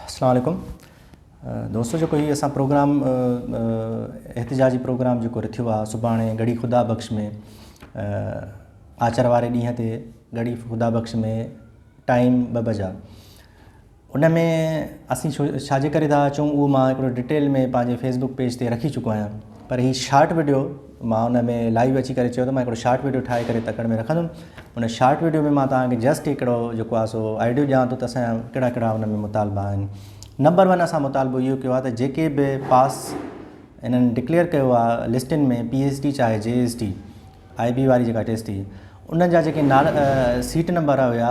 السلام عليڪم دوستو جيڪو هي اسان پروگرام احتجاجي پروگرام جيڪو رٿيو آهي سڀاڻي گڙهي خدا بخش ۾ آچر واري ڏينهن تي گڙهي خدا بخش ۾ ٽائيم ٻه بجا ان ۾ اسين ڇا جي ڪري ٿا اچون اهو مان هڪڙو ڊيٽيل ۾ پنهنجي فيسبوڪ پيج تي رکي چڪو آهيان پر هي شارٽ وڊيو مان ان ۾ لائيو اچي ڪري چيو ته مان هڪڙو شارٽ وڊيو ٺاهي ڪري تڪڙ ۾ رکندم ان شارٽ وڊيو ۾ مان توهان کي جسٽ هڪڙو جيڪو آهي سو آئيڊيو ڏيان ٿو ته اسان جا ڪهڙا ڪهڙا ان ۾ مطالبا آهن نمبر ون اسان مطالبو اهو ڪيو آهي ته جيڪي به پاس انهن ڊڪليئر ڪيو آهي لسٽن ۾ پي ايس ٽي چاهي جي ايس ٽي آئي بي واري جيڪا ٽيسٽ هئي ان جا جيڪي نالا سيٽ نمبر هيا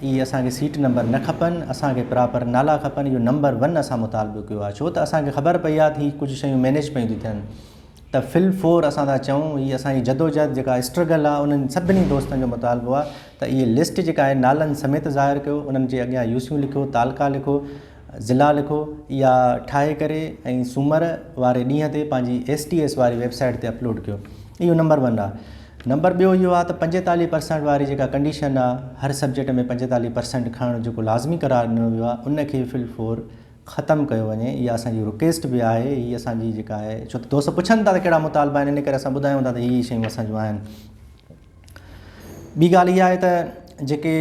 اي اسان کي سيٽ نمبر نه کپن اسان کي پراپر نالا کپن اهو نمبر ون اسان مطالبو ڪيو آهي ڇو ته اسان کي خبر پئي آهي ته هي ڪجهه شيون مينيج پئي ٿيون ٿين ته في الفور اسان ٿا چئون هي اسان جي جدوجهد جيڪا اسٽرگل آ انهن سڀني دوستن جو مطالبو آ ته اهي لسٽ جيڪا آهي نالن سميت ظاهر ڪيو انهن جي اڳيان يوسيون لکيو تعلقا لکو ضلعا لکو اها ٺاهي ڪري ۽ سومر واري ڏينهن تي پنهنجي ايس ٽي ايس واري ويب سائيٽ تي اپلوڊ ڪيو اهو نمبر ون آ نمبر ٻيو اهو آ ته پنجيتاليهه پرسنٽ واري جيڪا ڪنڊيشن آ هر سبجيڪٽ ۾ پنجيتاليهه پرسنٽ کڻڻ جيڪو لازمي قرار ڏنو ويو آ ان کي في الفور ختم ڪيو وڃي اها اسان جي رڪيسٽ به آهي هي اسان جي جيڪا آهي ڇو ته دوست پڇن ٿا ته ڪهڙا مطالبا آهن ان ڪري اسان ٻڌايون ٿا ته هي هي شيون اسان جون آهن ٻي ڳالهه اها آهي ته جيڪي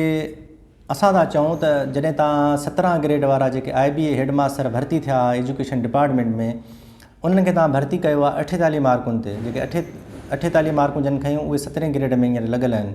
اسان ٿا چئون ته جڏهن تان سترهن گريڊ وارا جيڪي I B A head master ڀرتي ٿيا ايجوڪيشن ڊپارٽمينٽ ۾ انهن کي تان ڀرتي ڪيو آهي اٺيتاليهه مارڪن تي جيڪي اٺي اٺيتاليهه مارڪون جن کيون اهي سترهين گريڊ ۾ هينئر لڳل آهن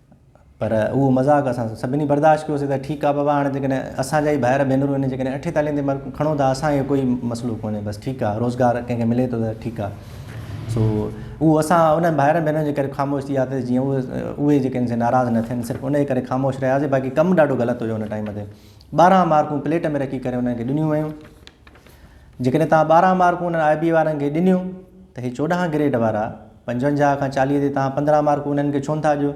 پر اهو مذاق اسان سڀني برداشت ڪيوسين ته ٺيڪ آ بابا هاڻي جيڪڏهن اسان جا ئي ڀائر ڀينرون هن جيڪڏهن اٺين تالين تي مرڪون کڻو ٿا اسان کي ڪوئي مسئلو ڪونهي بس ٺيڪ آ روزگار ڪنهن کي ملي ٿو ته ٺيڪ آ سو اهو اسان انهن ڀائرن ڀينرن جي ڪري خاموش ٿي وياسين جيئن اهي اهي جيڪڏهن سي ناراض نه ٿين صرف انهي ڪري خاموش رهياسين باقي ڪم ڏاڍو غلط هيو ان ٽائيم تي ٻارهن مارڪون پليٽ ۾ رکي ڪري انهن کي ڏنيون ويون جيڪڏهن تان ٻارهن مارڪون انهن آء بي وارن کي ڏنيون ته هي چوڏهن گريڊ وارا پنجونجاهه کان چاليهه تي توهان پندرهن مارڪون انهن کي ڇونه ٿا ڏيو؟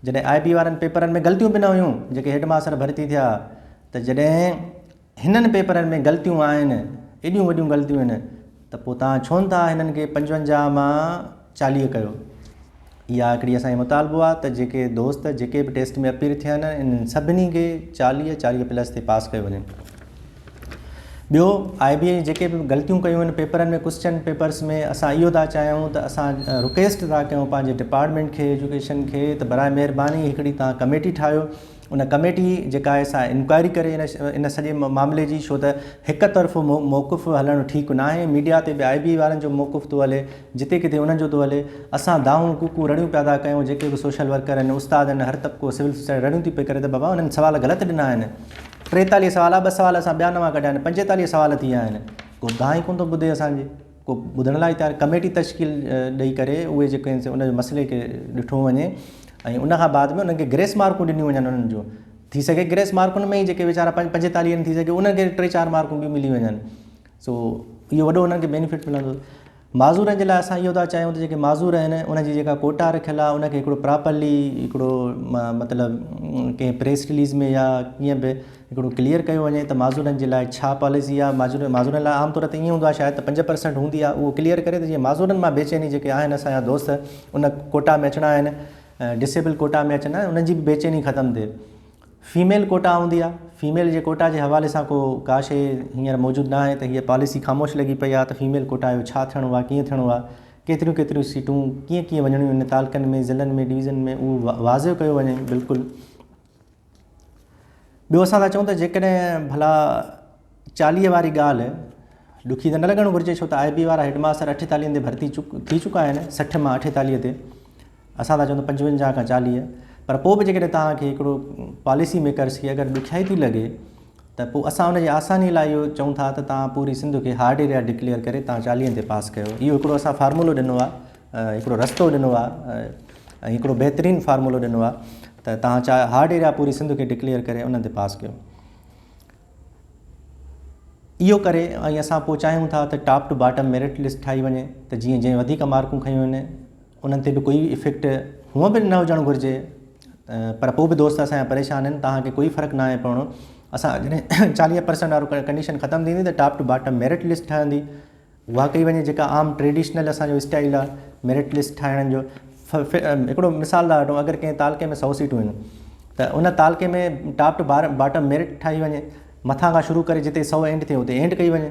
جڏهن آء بي وارن پيپرن ۾ غلطيون به نه هيون جيڪي هيڊ ماستر ڀرتي ٿيا ته جڏهن هنن پيپرن ۾ غلطيون آهن ايڏيون وڏيون غلطيون هن ته پوء توهان ڇونه ٿا هنن کي پنجونجاهه مان چاليهه ڪيو؟ اها هڪڙي اسان جو مطالبو آهي ته جيڪي دوست جيڪي به ٽيسٽ ۾ اپيئر ٿيا آهن انهن سڀني کي چاليهه چاليهه پلس تي پاس ڪيو وڃي. ٻيو آء بي اين جيڪي به غلطيون ڪيون آهن پيپرن ۾ ڪوسچن پيپرس ۾ اسان اهو ٿا چاهيون ته اسان رڪيسٽ ٿا ڪيون پنهنجي ڊپارٽمينٽ کي ايجوڪيشن کي ته برائي مهرباني هڪڙي توهان ڪميٽي ٺاهيو ان ڪميٽي جيڪا آهي سا انڪوائري ڪري ان سڄي معاملي جي ڇو ته هڪ طرفو موقف هلڻ ٺيڪ ناهي ميڊيا تي به آء بي اين وارن جو موقف ٿو هلي جتي ڪٿي انهن جو ٿو هلي اسان دانهون ڪوڪون رڙيون پيا ٿا ڪيون جيڪي به سوشل ورڪر آهن استاد آهن هر طبقو سول سوسائٽي رڙيون ٿي پئي ڪري ته بابا انهن سوال غلط ڏنا آهن ٽيتاليهه سوال آ ٻه سوال اسان ٻيا نوان ڪڍيا آهن پنجيتاليهه سوال ٿي ويا آهن ڪو گانهن ئي ڪونه ٿو ٻڌي اسان جي ڪو ٻڌڻ لاء تيار ڪميٽي تشڪيل ڏئي ڪري اهي جيڪي آهن سي ان جي مسئلي کي ڏٺو وڃي ۽ ان کان بعد ۾ انهن کي گريس مارڪون ڏنيون وڃن انهن جون ٿي سگهي گريس مارڪن ۾ ئي جيڪي ويچارا پنجيتاليهه ٿي سگهي انهن کي ٽي چار مارڪون ٻيون ملي وڃن سو اهو وڏو انهن کي بينيفٽ ملندو. معذورن جي لاء اسان اهو ٿا چاهيون ته جيڪي معذور آهن انهن جي جيڪا ڪوٽا رکيل آهي ان کي هڪڙو پراپرلي هڪڙو مطلب ڪنهن پريس رليز ۾ يا ڪيئن به هڪڙو ڪليئر ڪيو وڃي ته معذورن جي لاء ڇا پاليسي آهي معذور معذورن لاء عام طور تي ائين هوندو آهي شايد ته پنج پرسنٽ هوندي آهي اهو ڪليئر ڪري ته جيئن معذورن مان بي چيني جيڪي آهن اسان جا دوست ان ڪوٽا ۾ اچڻا آهن ڊسيبل ڪوٽا ۾ اچڻا آهن انهن جي به بي چيني ختم ٿئي فيميل ڪوٽا هوندي آهي، فيميل جي ڪوٽا جي حوالي سان ڪو ڪا شيء هينئر موجود نه آهي ته هيء پاليسي خاموش لڳي پئي آهي ته فيميل ڪوٽا جو ڇا ٿيڻو آهي ڪيئن ٿيڻو آهي، ڪيتريون ڪيتريون سيٽون ڪيئن ڪيئن وڃڻيون آهن تعلقن ۾ ضلعن ۾ ڊويزن ۾ اهو واضع ڪيو وڃي بلڪل. ٻيو اسان ٿا چئون ته جيڪڏهن ڀلا چاليهه واري ڳالهه ڏکي ته نه لڳڻ گهرجي ڇو ته آء بي وارا هيڊ ماستر اٺيتاليهن تي ڀرتي ٿي چڪا آهن سٺ مان اٺيتاليهه تي اسان ٿا چئون ته پنجونجاهه کان چاليهه پر پوء به جيڪڏهن توهان کي هڪڙو پاليسي ميڪرز کي اگر ڏکيائي ٿي لڳي ته پوء اسان ان جي آساني لاء اهو چئون ٿا ته توهان پوري سنڌ کي هارڊ ايريا ڊڪليئر ڪري توهان چاليهن تي پاس ڪيو اهو هڪڙو اسان فارمولو ڏنو آهي هڪڙو رستو ڏنو آهي ۽ هڪڙو بهترين فارمولو ڏنو آهي ته توهان چا هارڊ ايريا پوري سنڌ کي ڊڪليئر ڪري انهن تي پاس ڪيو اهو ڪري ۽ اسان پوء چاهيون ٿا ته top to bottom merit list ٺاهي وڃي ته جيئن جنهن وڌيڪ مارڪون کنيون آهن انهن تي به ڪوئي افيڪٽ هونئن به نه هجڻ گهرجي پر پوء به دوست اسان جا پريشان آهن توهان کي ڪوئي فرق ناهي پوڻو اسان جڏهن چاليهه پرسنٽ وارو ڪنڊيشن ختم ٿيندي ته top to bottom merit list ٺهندي اها ڪئي وڃي جيڪا عام ٽريڊيشنل اسان جو اسٽائل آهي ميرٽ لسٽ ٺاهڻ جو هڪڙو مثال ٿا وٺون اگر ڪنهن تعلقي ۾ سؤ سيٽون آهن ته ان تعلقي ۾ ٽاپ ٽو باٽم ميرٽ ٺاهي وڃي مٿان کان شروع ڪري جتي سؤ اينڊ ٿئي اتي اينڊ ڪئي وڃي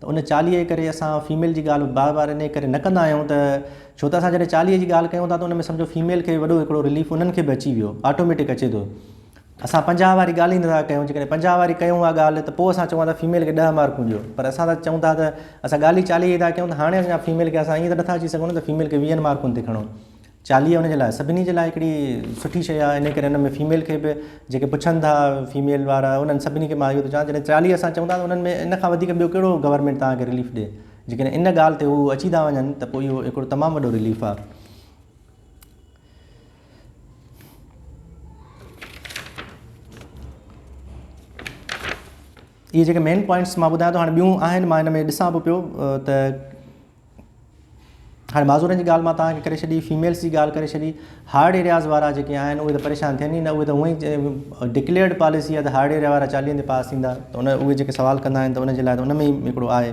ته ان چاليهه جي ڪري اسان فيميل جي ڳالهه بار بار انهي ڪري نه ڪندا آهيون ته ڇو ته اسان جڏهن چاليهه جي ڳالهه ڪيون ٿا ته ان ۾ سمجهو فيميل کي وڏو هڪڙو رليف انهن کي به اچي ويو آٽوميٽڪ اچي ٿو اسان پنجاهه واري ڳالهه ئي نٿا ڪيون جيڪڏهن پنجاهه واري ڪيون اها ڳالهه ته پوء اسان چون ٿا فيميل کي ڏهه مارڪون ڏيو پر اسان ته چون ٿا ته اسان ڳالهه ئي چاليهه جي ٿا ڪيون ته هاڻي اسان فيميل کي اسان ائين ته نٿا اچي سگهون نه ته فيميل کي ويهن مارڪن تي کڻو چاليهه ان جي لاء سڀني جي لاء هڪڙي سٺي شيء آهي ان ڪري ان ۾ فيميل کي به جيڪي پڇن ٿا فيميل وارا انهن سڀني کي مان اهو ٿو چوان جڏهن چاليهه اسان چون ٿا ته انهن ۾ ان کان وڌيڪ ٻيو ڪهڙو گورنمينٽ توهان کي رليف ڏي جيڪڏهن ان ڳالهه تي هو اچي ٿا وڃن ته پوء اهو هڪڙو تمام وڏو رليف آهي اهي جيڪي مين پوائنٽس مان ٻڌايان ٿو هاڻي ٻيون آهن مان ان ۾ ڏسان به پيو ته هاڻي معذورن جي ڳالهه مان توهان کي ڪري ڇڏي فيميلس جي ڳالهه ڪري ڇڏي هارڊ ايرياز وارا جيڪي آهن اهي ته پريشان ٿين ئي نه اهي ته هونئن ئي ڊڪليئرڊ پاليسي آهي ته هارڊ ايريا وارا چاليهن تي پاس ٿيندا ته ان اهي جيڪي سوال ڪندا آهن ته ان جي لاء ته ان ۾ ئي هڪڙو آهي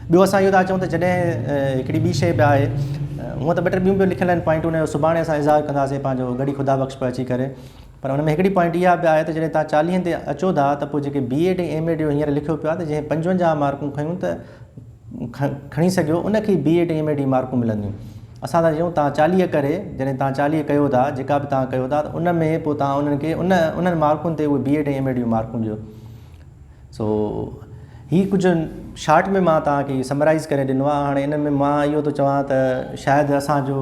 ٻيو اسان اهو ٿا چئون ته جڏهن هڪڙي ٻي شي به آهي هونئن ته ٻه ٽي ٻيون به لکيل آهن پوائنٽون ان جو سڀاڻي اسان اظهار ڪنداسين پنهنجو گڙي خدا بخش پرچي ڪري پر ان ۾ هڪڙي پوائنٽ اها به آهي ته جڏهن توهان چاليهن تي اچو ٿا ته پوء جيڪي بي ايڊ ۽ ايم ايڊ جو هينئر لکيو پيو آهي ته جنهن پنجونجاهه مارڪون کنيون ته کڻي سگهيو ان کي بي ايڊ ۽ ايم ايڊ جي مارڪون ملنديون اسان ٿا چيون توهان چاليهه ڪري جڏهن توهان چاليهه ڪيو ٿا جيڪا به توهان ڪيو ٿا ته ان ۾ پوء توهان انهن کي ان انهن مارڪن تي اهي بي ايڊ ۽ ايم ايڊ جون مارڪون ڏيو سو هي ڪجهه شارٽ ۾ مان توهان کي سمرائز ڪري ڏنو آهي هاڻي ان ۾ مان اهو ٿو چوان ته شايد اسان جو